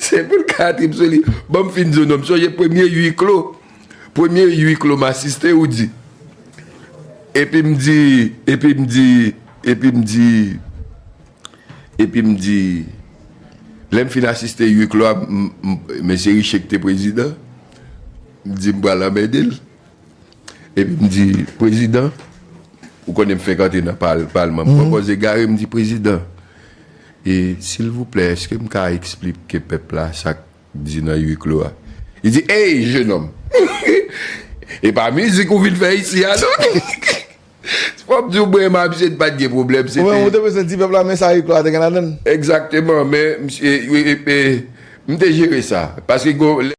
Se pou l ka trip sou li. Banm fin di w non, m sonje premye ui klo, premye ui klo m asiste ou di, epi m di, epi m di, epi m di, epi m di, lè m fin asiste ui klo a, m, m, mesye Riché ki te prezidan, m di m pral anmède l. Epi m di, Prezidan, ou konnen m fenk antre nan palman, m pran pòz egare, m di, Prezidan, e silvouplè èske m ka esplike pèp la sa k di nan ui klo a? Li di, Ey, jenòm! E pa mizik ou vin fè isi a non! Fò m di w, mwen e Mabsie n pa t gen pwoblèm, se te. Ou menm ou te bezwen di pèp la men sa ui klo a te gen ladan l? Egzakteman, men, misye, e, e, m te jere sa, paske gen yon lè.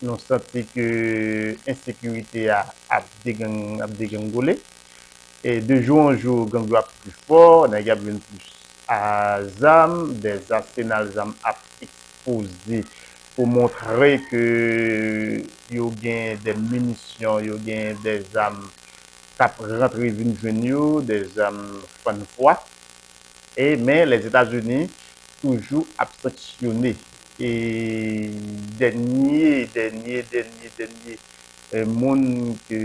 Nou santi ke ensekirite a ap degrengole. De jou an jou, gang yo ap pli fò, nèg yo ap vin plis a zam, des asenal zam ap ekspoze pou montre ke yo gen de minisyon, yo gen de zam k ap rantre vin jwenn yo, de zam fann fwa. e men Lèzetazini toujou ap sanksyone e dènye dènye dènye dènye moun ke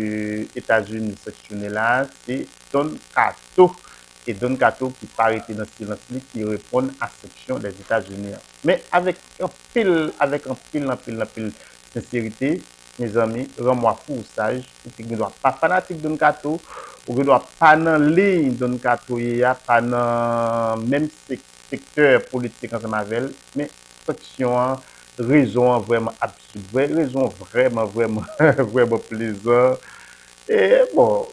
Etazini sanksyone la se Don Kato e Don Kato ki pa rete nan silans li ki reponn a sanksyon Lèzetazini an men avèk anpil avèk anpil anpil anpil senserite. Mezanmi ranmwa fou ou saj ou te gen dwa pa fanatik Don kato ou gen dwa pa nan liy Don kato ye a pa nan menm sektè politik ansanm avèl men fksyon an rezon an vrèman absid vre rezon an vrèman vrèman vrèman plezan e bon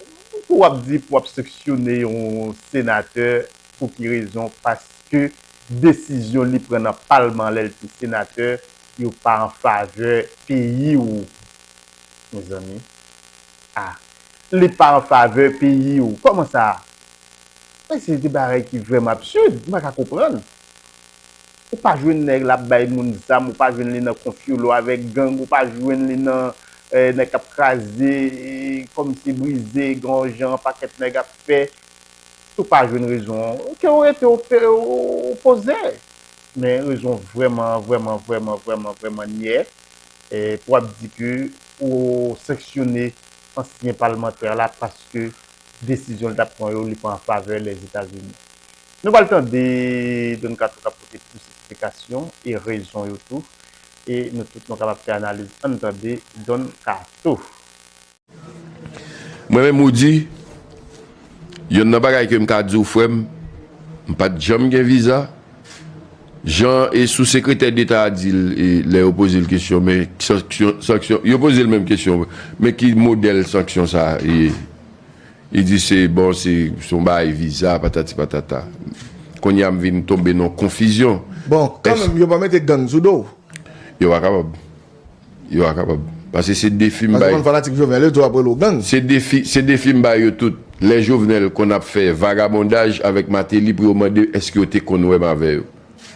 pou wap di pou wap seksyone yon senatè pouki rezon paske desizyon li pran nan palman lèl te senatè yo pa an favè peyi ou mezanmi ah li pa an favè peyi ou kòman sa men se de bagay ki vrèman absurd m pa ka konprann ou pa jwenn nèg la ap bay moun zam ou pa jwenn li nan konfyolo avèk gang ou pa jwenn li nan nèg k ap kraze kòmsi brize gran w jan pakèt nèg ap fè si w pa jwenn rezon an ke w rete w poze. Men rezon vrèman vrèman vrèman vrèman vrèman nyè pou w ap di ke ou sanksyone ansyen palmantè la paske desizyon li t ap pran yo li pa an favè Lèzetazini. Nou pral tande Don Kato k ap pote plis eksplikasyon e rezon yo tou e nou tout nou kapab fè analiz. Ann tande Don Kato. Mwen menm Roody, yonn nan bagay ke m ka di w frè m, m pa t janm gen viza. Jan e sou sekretè deta a di l e lè yo poze l kesyon men ki sanksyon, sanksyon, yo poze l menm kesyon men ki modèl sanksyon sa a ye? Li di se bon se se yon bagay viza patati patata. Kounye a m vin tonbe nan yon konfizyon. Bon, kanmenm yo pa mete gang sou do w? Yo pa kapab. Yo a kapab. Pase se defi m bay. Se defi se defi m bay yo tout. Lè Jovenel konn ap fè vagabondaj avèk Martelly pou yo mande èske yo te konn wè m avè yo.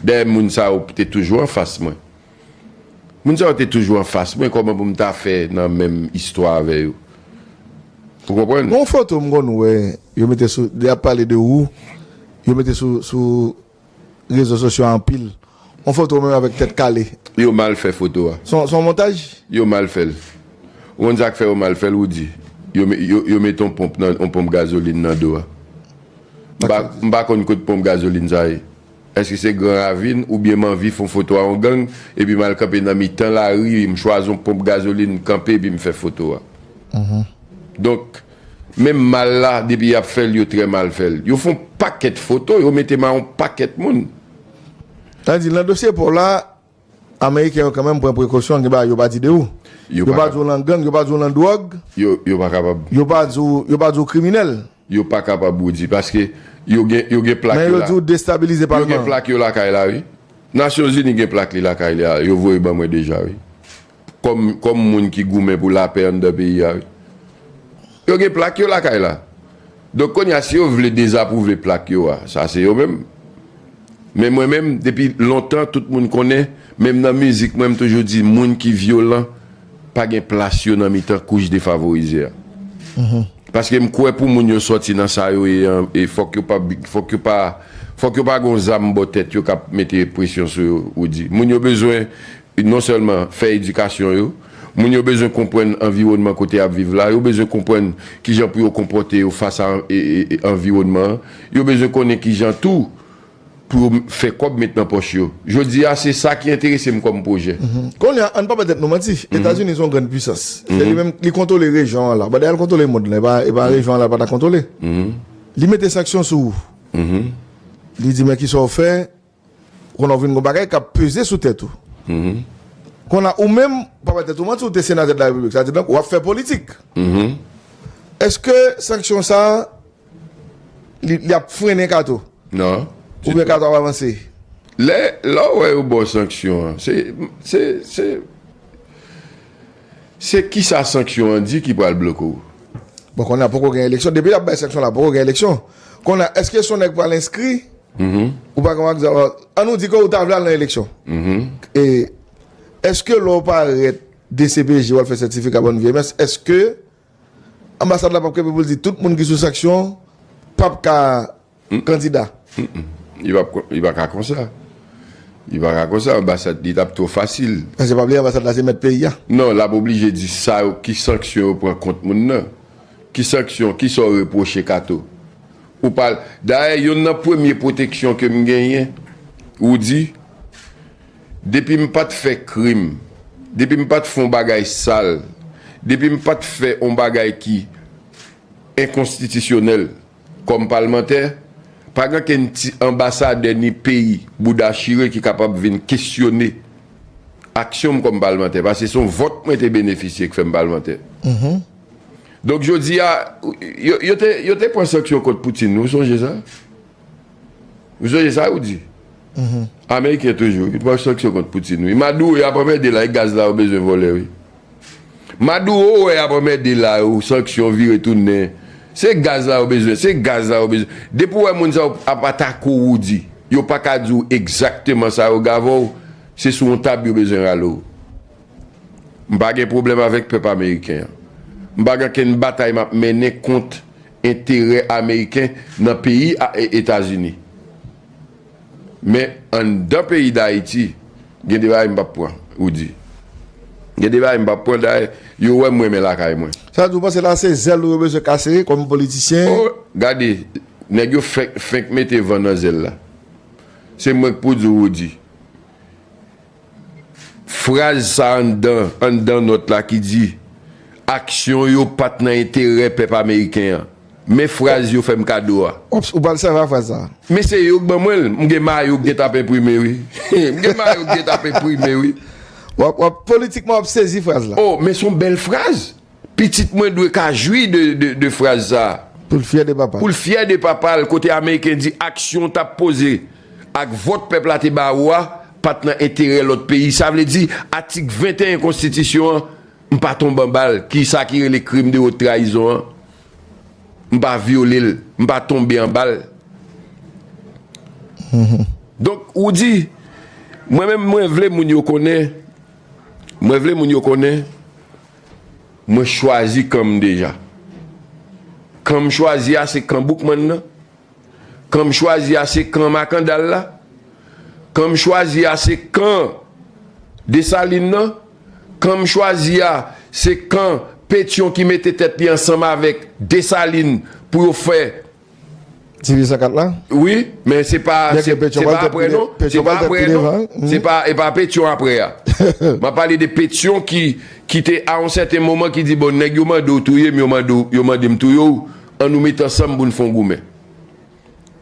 Dayè moun sa yo te toujou anfas mwen. Moun sa yo te toujou anfas mwen kòman pou m ta fè nan menm istwa avè yo. Ou konprann? Gon foto m konn wè yo mete sou lè y ap pale de ou yo mete sou sou. rezo sosyo anpil. On foto ou menm avèk tèt kale. Yo mal fè foto a. Son montaj? Yo mal fèl. Ou konn sak fè yo mal fèl Roody? Yo met on ponp nan on ponp gazoline nan do a. M pa konn kot ponp gazoline sa ye. Eske se gran ravin oubyen m anvi fon foto a on gang epi mal kanpe nan mitan lari m chwazi on ponp gazoline kanpe epi m fè foto a. Donk. Menm mal la depi yap fèl yo trè mal fèl. Yo fon pakèt foto yo mete ma yon pakèt moun. Sa vle di lan dosye paw la ameriken yo kanmenm pran prekosyon gen bagay yo pa di de ou. Yo pa di w lan gang, yo pa di w lan dwòg. Yo pa kapab. Yo pa di w, yo pa di w kriminèl. Yo pa kapab Roody paske yo gen yo gen plak yo la. Men yo di w destabilize palman. Yo gen plak yo lakay la wi. Nasyon zini gen plak li lakay li a yo voye ban mwen deja wi. Kòm moun ki goumen pou lapè anndan peyi a wi. Yo gen plak yo lakay la. Donk kounye a si yo vle dezapwouve plak yo a, sa se yo menm. Men mwen menm depi lontan tout moun konnen, menm nan mizik mwen m toujou di moun ki vyolan pa gen plas yo nan mitan kouch defavorize a. Paske m kwè pou moun yo sòti nan sa yo ye an e fòk yo pa fòk yo pa fòk yo pa gon zam bò tèt yo k ap mete presyon sou yo Roody. Moun yo bezwen Non sèlman fè edikasyon yo, moun yo bezwen konprann anviwònman kote y ap viv la, yo bezwen konprann ki jan pou yo konpòte yo fas a anviwònman an, yo bezwen konnen ki jan tou pou yo fè kòb met nan pòch yo. Jodi a, se sa ki enterese m kòm pwojè. Kounye a, an n pa bay tèt nou manti, Etazini se yon grann puisans. Se li menm, li kontwole rejyon an la. Badè al kontwole mond lan, e pa rejyon an la l pa ta kontwole. Li mete sanksyon sou ou. Li di men ki sa w fè, Kounye a ou vin gen yon bagay k ap peze sou tèt ou. Kounye a ou menm pa bay tèt ou manti ou te senatè de la Repiblik. Sa vle di donk w ap fè politik. Èske sanksyon sa a li ap frennen Kato? Non. Oubyen Kato ap avanse? Lè ou wè yo ba w sanksyon an, se se kisa sanksyon an di ki pral bloke w? Bon kounye a poko gen eleksyon. Depi y ap bay sanksyon la poko gen eleksyon. Kounye a èske Sonèk pral enskri Ou pa konprann sa map. An nou di ke ou ta vle al nan eleksyon. E eske lè ou parèt dcpj wap fè sètifika bòn vyèy mès eske anbasad la pap kenbe pou l di tout moun ki sou sanksyon pap ka kandida? Li pa ka konsa. Li pa ka konsa anbasad li tap twò fasil. Paske pa bliye anbasad la se mèt peyi a. Non lap oblije di sa yo ki sanksyon yo pran kont moun nan. Ki sanksyon, kisa w repwoche kato? Ou pa Dayè yonn nan premye pwoteksyon ke m genyen, ou di, depi m pa t fè krim, depi m pa t fè yon bagay sal, depi m pa t fè yon bagay ki enkonstitisyonèl kòm palmantè, pa gen okenn ti anbasadè ni peyi bouda chire ki kapab vin kesyone aksyon m kòm palmantè, paske se yon vòt mwen te benefisye ki fè m palmantè. Donk jodi a, yo te pran sanksyon kont Poutine, ou sonje sa? Ou sonje sa ou di? Ameriken toujou, yo pran sanksyon kont Poutine, wi. Maduro yo ap anmède la, e gaz la yo bezwen vòlè, wi. Maduro ou wè y ap anmède la yo, sanksyon vire tounen, se gaz la yo bezwen, se gaz la yo bezwen. Depi ou wè moun sa yo ap atake ou, ou di, yo pa ka di ou egzakteman sa yo gave ou, se sou yon tab yo bezwen rale ou. M pa gen pwoblèm avèk pèp ameriken an. M pa gen okenn batay m ap mennen kont enterè ameriken nan peyi Etazini. Men, anndan peyi Dayiti, gen de bagay m pa p pran, Rudy. Gen de bagay m pa p pran. Dayè, yo wè m renmen lakay mwen. Sa vle di ou panse la se zèl ou yo bezwen kase kòm politisyen? O! Gade, nèg yo fenk mete van nan zèl la. Se mwen k pou di w, Rudy. Fraz sa anndan anndan nòt la ki di, Aksyon yo pa t nan enterè pèp ameriken an. Men fraz yo fè m kado a. Ops, ou pral sèvi ak fraz sa. Men se yo k ban mwen l. M gen mayo k gentan ap enprime wi. M gen mayo k gentan ap enprime wi. Wap politikman wap sezi fraz la. O, men s on bèl fraz! Pitit mwen dwe ka jwi de fraz sa a. Pou l fyè de papa l. Pou l fyè de papa l kote Ameriken di aksyon w t ap poze ak vòt pèp la te ba ou a pa t nan enterè lòt peyi. Sa vle di atik 21 konstitisyon an m pa tonbe anba l ki sa ki rele krim de wot trayizon an m pa vyole l m pa tonbe anba l. Donk ou di mwen menm mwen vle moun yo konnen mwen vle moun yo konnen. Mwen chwazi kan m deja. Kan m chwazi a se kan Boukman nan. Kan m chwazi a se kan Makandal la. Kan m chwazi a se kan Desalin nan. Kan m chwazi a se kan Petyon ki mete tèt li ansanm avèk Desalin pou yo fè. Tire zakat la. Wi, men se pa aprè non, se pa aprè non, se pa e pa Petion aprè a. M ap pale de Petion ki te a yon sèten moman ki di bon nèg yo mande w touye m, yo mande m touye w, an nou met ansanm pou n fè yon goumen.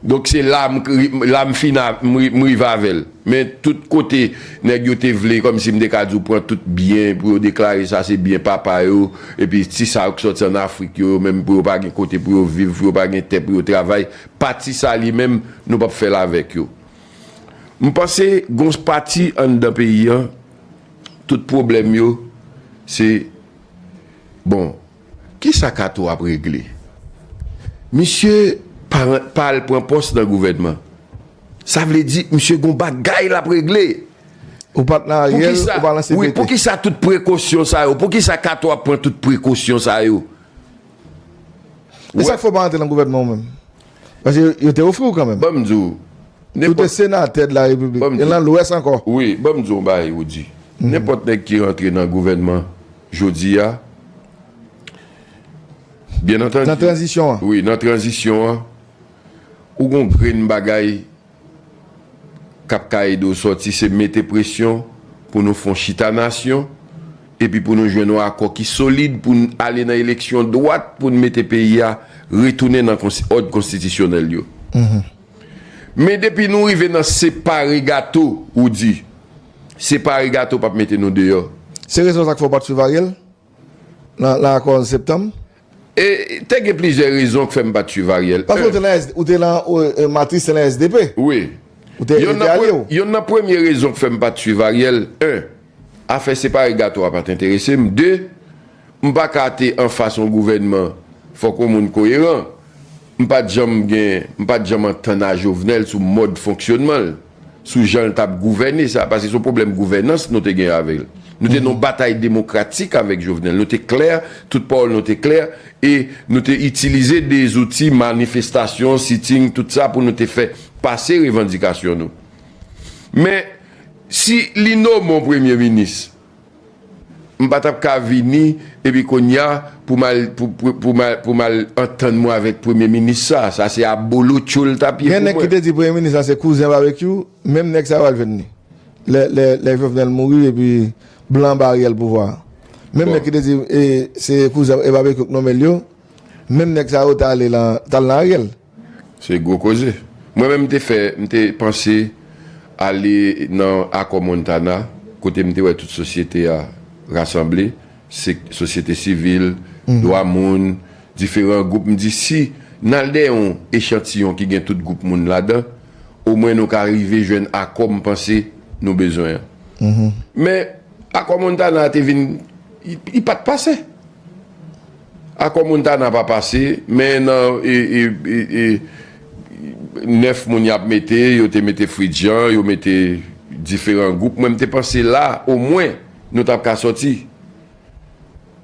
Donk se la m fin m rive avè l. Men tout kote nèg yo te vle kòmsi m te ka di w pran tout byen pou yo deklare sa se byen papa yo epi ti sa yo ki sòti an Afrik yo yo menm pou yo pa gen kote pou yo viv pou yo pa gen tè pou yo travay pati sa li menm nou pap fè l avèk yo m panse gon pati anndan peyi an tout pwoblèm yo se bon. Kisa kato ap regle? Misye pa rent pa al pran pòs nan gouvènman. Sa vle di misye gon bagay lap regle. Ou pat nan ariel ou pa nan CPT. Wi poukisa tout prekosyon sa yo poukisa kato ap pran tout prekosyon sa yo. Esak fè ou pa antre nan gouvènman ou menm? Paske yo te ofri w kanmenm. Ban m di w, nenpòt. Ou te senatè de la Repiblik. Ban m di w. E lan Lwès ankò. Wi, ban m di w yon bagay, Roody. Nenpòt nèg ki rantre nan gouvènman jodi a, byennantandi. Nan tranzisyon an. Wi, nan tranzisyon an, ou gen yon grenn bagay k ap ka ede w sòti se mete presyon pou nou fon chita nasyon epi pou nou jwenn yon akò ki solid pou n ale nan eleksyon dwat pou n mete peyi a retounen nan òd konstitisyonèl yo. Men depi nou rive nan separe gato ou di. Separe gato p ap mete nou deyò. Se rezon sa k fè w pa t swiv Ariel nan akò 11 septanm? E, te gen plizyè rezon k fè m pa t suiv Ariel. Paske ou te nan SD, ou te lan, Matris te lan SDP. Wi. Ou te, yo te alye w. Yonn nan premye rezon k fè m pa t suiv Ariel, 1, afè separe gato a pa t enterese m, 2, m pa ka te anfas yon gouvènman, fòk yon moun koyeran. M pa t janm gen, m pa t janm antann a Jovenel sou mòd fonksyonnman l. sou jan l t ap gouvène sa, paske se yon pwoblèm gouvènans nou te gen avè l. Nou te nan yon batay demokratik avèk Jovenel. Nou te klè, tout pawòl nou te klè e nou te itilize de zouti manifestasyon, sitting, tout sa pou nou te fè pase revandikasyon nou. Men, si li nomen yon premye minis, M pa tap ka vini epi kounya pou mal pou mal antann mwen avèk premye minis sa, sa se abolotcho l tap ye pou mwen. Gen nèg ki te di premye minis la se kouzen Babekyou, menm nèg sa yo al jwenn li lè Jovenel mouri epi blan ba Ariel pouvwa a. Menm nèg ki te di se kouzen Babekyou k nonmen l yo, menm nèg sa yo t al nan Ariel. Se gwo koze. Mwen menm m te fè, m te panse ale nan Akò Montana kote m te wè tout sosyete a rasanble, se sosyete sivil, dwa moun, diferan gwoup. M di si n al dèyè yon echantiyon ki gen tout gwoup moun ladan, omwen nou ka rive jwenn akò m panse nou bezwen an. Men, Akò Montana a te vin, li pa t pase. Akò Montana pa pase, men nan 9 moun yap mete, yo te mete Fridjan, yo mete diferan gwoup, mwen m te panse la omwen nou tap ka sòti.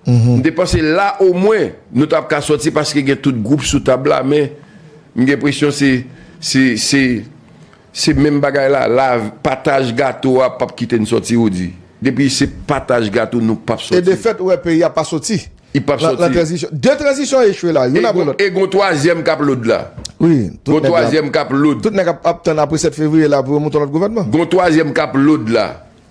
M te panse la omwen nou tap ka sòti paske gen tout gwoup sou tab la men m gen presyon se se. Se menm bagay la la pataj gato a pap kite n soti ou di depi se pataj gato nou pap soti. E de fèt ou wè peyi a pa soti lan tranzisyon. De tranzisyon echwe la youn apre lòt. E gon twazyèm kap load la. Wi gon twazyèm kap load. Tout nèg ap tann apre 7 fevriye la pou yo mouton lòt gouvènman. Gon twazyèm kap load la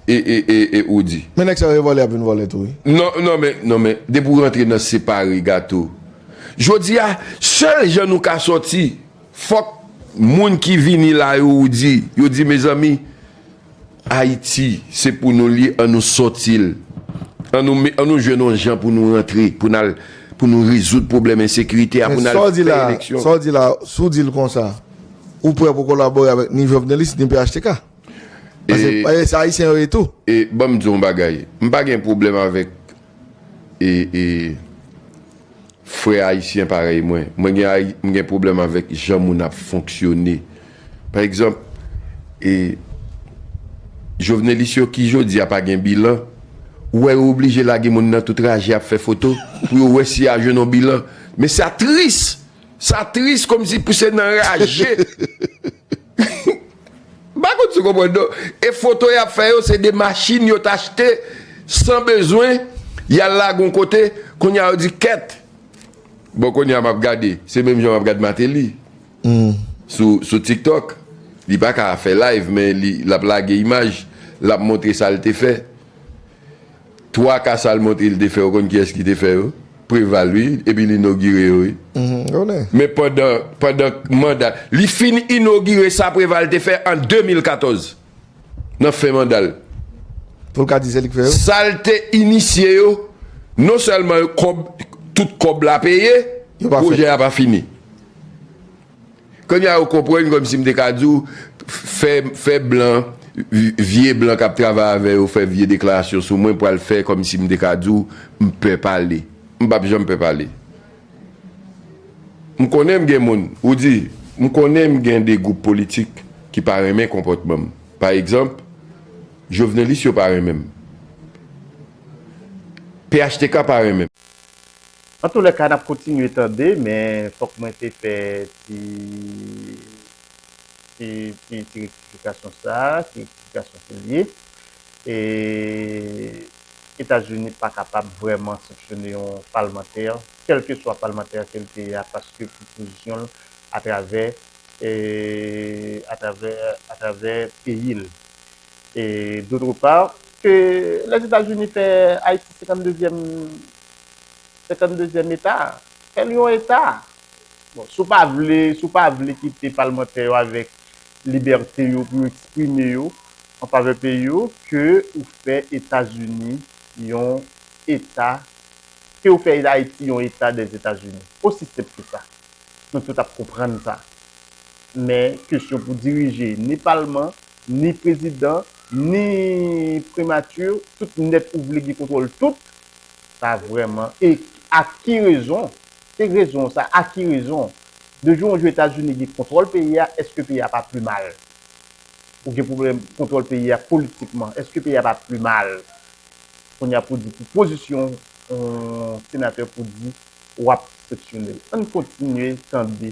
e ou di. Men nèg sa yo e vòlè yap vin vòlè tou wi. Non non men non men depi ou rantre nan separe gato. Jodi a sèl jan nou ka soti Fok moun ki vini la yo ou di yo di mezanmi Haiti se pou nou li an nou sotil an nou me an nou jwenn yon jan pou nou rantre pou nal pou nou rezoud pwoblem ensekirite a pou nal fè eleksyon. Men sa w di la si w di l konsa ou prè pou kolabore avèk ni Jovenelis ni phtk paske se Ayisyen yo ye tou. E banm di w yon bagay m pa gen pwoblem avèk e e. Frè ayisyen parèy mwen, mwen gen m gen pwoblèm avèk jan moun ap fonksyone. Pa egzanp, e Jovenelis yo ki jodi a pa gen bilan, ou wè yo oblije lage moun nan tout raje ap fè foto pou yo wè si y a jwenn yon bilan. Men sa tris! Sa tris kòmsi pou se nan raje. M pa konn si w konprann non. E foto y ap fè yo se de machin yo t achte san bezwen, y al lage yon kote, kounye a yo di kèt. Bon kounye a m ap gade, se menm jan m ap gade Mateli sou tiktok, li pa ka fè live men li l ap lage imaj, l ap montre sa l te fè. 3 cas Almonte Hill te fè ou konn kiyès ki te fè yo? Preval wi epi li inogire yo wi. M konnen. Men pandan pandan manda li fin inogire sa Preval te fè an 2014 nan fen manda l. Pou l ka di se li k fè yo? Sa l te inisye yo non sèlman yo kòb tout kòb la peye, pwojè a pa fini. Konnya ou konprann kòmsi m te ka di w fè fè blan vye blan k ap travay avè yo fè vye deklarasyon sou mwen pral fè kòmsi m te ka di w m pè pale m p ap janm pè pale m konnen m gen moun ou di m konnen m gen de gwoup politik ki pa renmen konpòtman m pa egzanp jovnelis yo pa renmen m phtk pa renmen m. Antoulèka nap kontinye tande men fòk mwen te fè ti ti ti ti rektifikasyon sa, ti rektifikasyon ke l ye. E Etazini pa kapab vrèman sanksyone yon palmantè kèlkeswa palmantè ke l te ye a paske pou pozisyon l atravè atravè atravè peyi l. E dotre pa ke Lèzetazini fè Ayiti senkann dezyèm Senkann dezyèm eta a. Fè l yon eta. Bon, si w pa vle, si w pa vle kite palmantè yo avèk libète yo pou yo eksprime yo an favè peyi yo, ke ou fè Etazini yon eta, ke ou fè Ayiti yon eta dè Etazini. Osi senp ke sa. Nou tout ap konprann sa. Men, kesyon pou dirije ni palman, ni prezidan ni primati tout nèt ou vle gen kontwòl tout sa vrèman e a ki rezon se rezon sa a ki rezon de jou an jou etazini gen kontwòl peyi a èske peyi a pa pli mal ou gen pwoblèm kontwòl peyi a politikman èske peyi a pa pli mal kounye a pou di pou pozisyon yon senatè pou di w ap seksyone l ann kontinye tande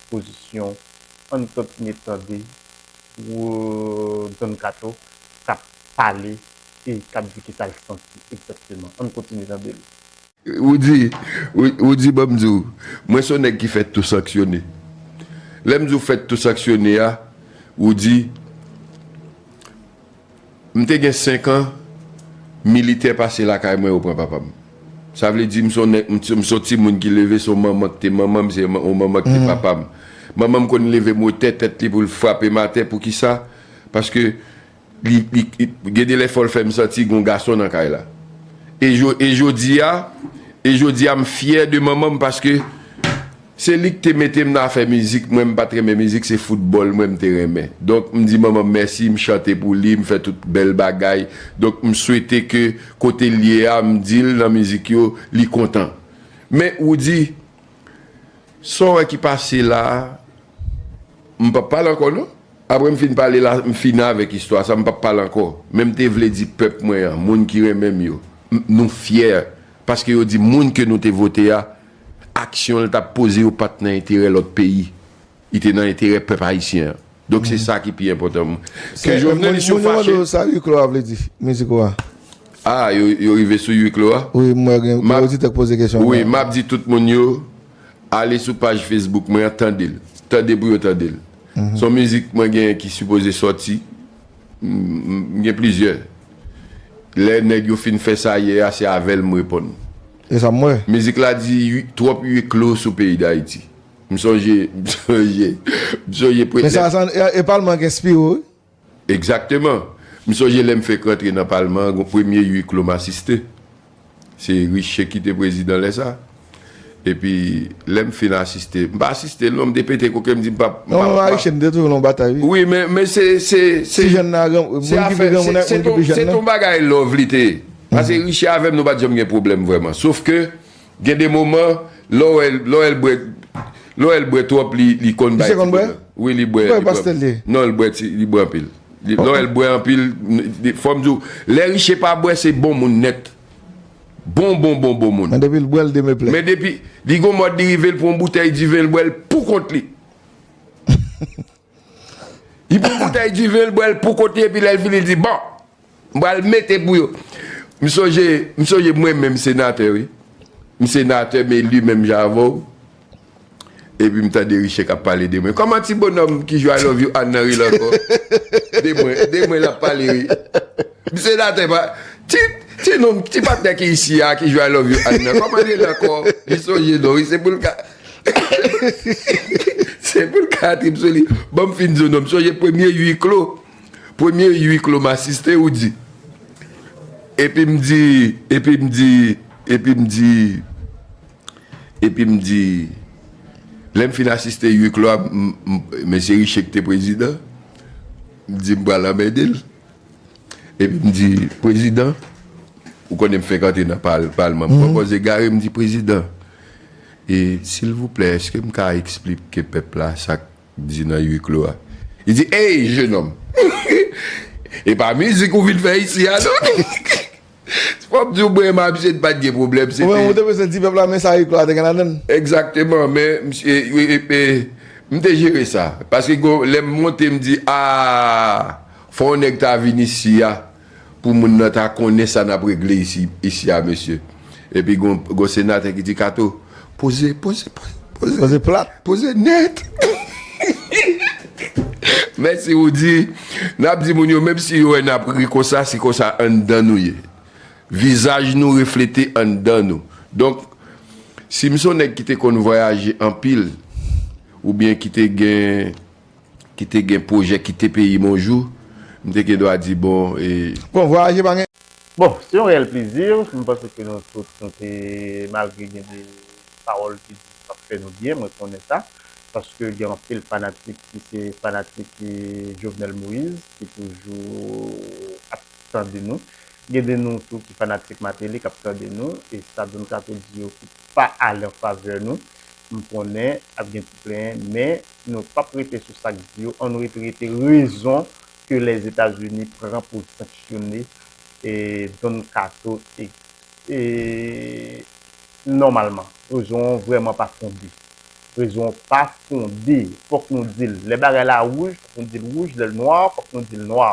pozisyon ann kontinye tande. Pou Don Kato kap pale e kap di kisal santi egzakteman. Ann kontinye tande l. Roody, Roody banm di w, mwen son nèg ki fèt tou sanksyone. Lè m di w fèt tou sanksyone a, Roody. M te gen 5 an, militè pase lakay mwen yo pran papa m. Sa vle di m s on nèg, m s on timoun ki leve s on manman ki te manman m, se on manman ki te papa m. Manman m konn leve motè tèt li pou l frape m atè poukisa? Paske li, li, gen de lè fò l fè m santi gen on gason nan kay la. E jo, e jodi a, e jodi a m fyè de manman m paske. Se li ki te mete m nan afè mizik, mwen m pat renmen mizik se foutbòl mwen m te renmen. Donk m di manman m mèsi, m chante pou li, m fè tout bèl bagay. Donk m swete ke kote l ye a m di l nan mizik yo li kontan. Men Roody, sa w wè ki pase la a, m pap pale ankò non. Apre m fin pale la, m fini avèk istwa sa, m pap pale ankò. Men m te vle di pèp mwen an, moun ki renmen m yo, nou fyè paske yo di moun ke nou te vote a, Aksyon l t ap poze yo pa t nan enterè lòt peyi. Li te nan enterè pèp ayisyen an. Donk se sa ki pi enpòtan. Ke jovnelis yo fache. Moun yo mande w sa Huis Clos a vle di, mizik ou a. Ah, yo rive sou Huis Clos a? Wi, m wè gen oditè k poze kesyon. Wi, m ap di tout moun yo ale sou paj Facebook mwen an tande l. Tande pou yo tande l. S on mizik mwen genyen ki sipoze sòti. M gen plizyè. Lè nèg yo fin fè sa yè a, se avè l m reponn. E sa m wè. Mizik la di ui twòp ui klo sou peyi dayiti m sonje m sonje m sonje premyè. Men sa sa e palman gen spiw wi. Egzakteman m sonje lèm fek rantre nan palman an gon premye ui klo m asiste se riche kite prezidan lè sa epi lèm fin asiste m pa asistel non m te pete koke m di m pap m pap pa wi men se se se se afè se se ton bagay love li te ye. Pase Richie avèm nou pat janm gen pwoblèm vrèman sof ke gen de moman lè w wèl bwè lè w wèl bwè twòp li konn bay ti pwoblèm wi li bwè non li bwè ti li bwè anpil lè w wèl bwè anpil fòm di w lè Richie pa bwè se bon moun nèt bon bon bon bon moun men depi l bwè l demeplè men depi li gon mòd li rive l pran yon boutèy diven l bwè l pou kont li. Li pran boutèy diven, l bwè l pou kont li epi lè l fini l di, Bon! M pral mete pou yo. M sonje, m sonje mwen menm senatè wi. M senatè, m eli menm jan avè w. Epi m tande Riche k ap pale de mwen. Kòman ti bonòm ki jwe I love you Ann nan ri l ankò? De mwen, de mwen l ap pale wi. M senatè pa, ti, ti nonm, ti patnè ki isi a ki jwe I love you Ann nan, kòman l rele ankò? Li sonje non wi, se pou l ka. Se pou l ka trip sou li. Ban m fin di w non. M sonje premye ui klo. Premye ui klo m asiste ou di. Epi m di, epi m di, epi m di, epi m di, lè m fin asiste ui klo a, mesye Riche ki te prezidan, m di m pral anmède l. Epi m di, prezidan, ou konnen m fenk antre nan palman. M pwopòze gare, m di, prezidan. E silvouplè eske m ka eksplipke pèp la sak di nan ui klo a? Li di ey jenòm e pa mizik ou vin fè isi a non se pou m di w mwen e Mabsye n pat gen pwoblèm se te Ou menm ou te bezwen di pèp la men sa ui klo a te gen ladan l? Egzakteman men misye e m te jere sa paske gon lè m monte m di aa fò yon nèg ta vin isi a Pou moun nan ta konnen sa nap regle isi isi a mesye. Epi gon gon senatè ki di kato poze poze poze Poze plat. poze nèt Mèsi Roody Nap di moun yo menm si yo wè nap ri konsa se konsa anndan nou ye Vizaj nou reflete anndan nou Donk si m son nèg ki te konn vwayaje anpil oubyen ki te gen ki te gen pwojè kite peyi m on jou, m te gen dwa di bon e. Bon, vwayaje pa gen. Bon, se yon reyèl plezi, m panse ke nou tout nou te malgre gen de pawòl ki di pa fè nou byen, mwen konnen sa, paske gen anpil fanatik ki se fanatik Jovenel Moïse ki toujou ap tande nou, gen de nou tou ki fanatik Martelly k ap tande nou e sa Don Kato di yo ki pa ale an favè nou, m konnen ap gen ti plenyen men nou pap rete sou sak di yo an nou rete rete rezon ke les etats unis pran poul sanksyone Don kato nòmalman rezon an vrèman pa fonde rezon an pa fonde fòk nou dil lè bagay la wouj fòk nou dil wouj lèl nwa fòk nou dil nwa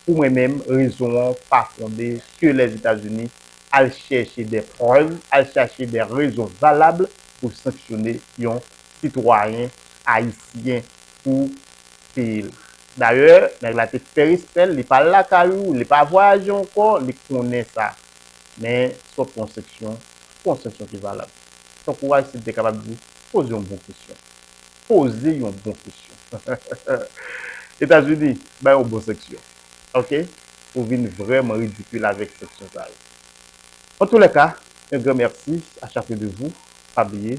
pou mwen menm rezon an pa fonde ke les etats unis al chèche des preuves al chèche des rezon valable poul sanksyone yon sitwayen ayisyen pou peyi la. Dayè, nèg la te fè respè l, li pa al lakay ou, li pa vwayaje ankò, li konnen sa. Men, sòt yon seksyon, pou yon seksyon ki valab. Tankou Aristide te kapab di, poze yon bon kesyon. Poze yon bon kesyon. Etazini, bay yon bon seksyon. Ok? Pou vin vrèman ridikil avèk seksyon sa yo. Antoulèka, un grand merci à chacun de vous. Pa bliye,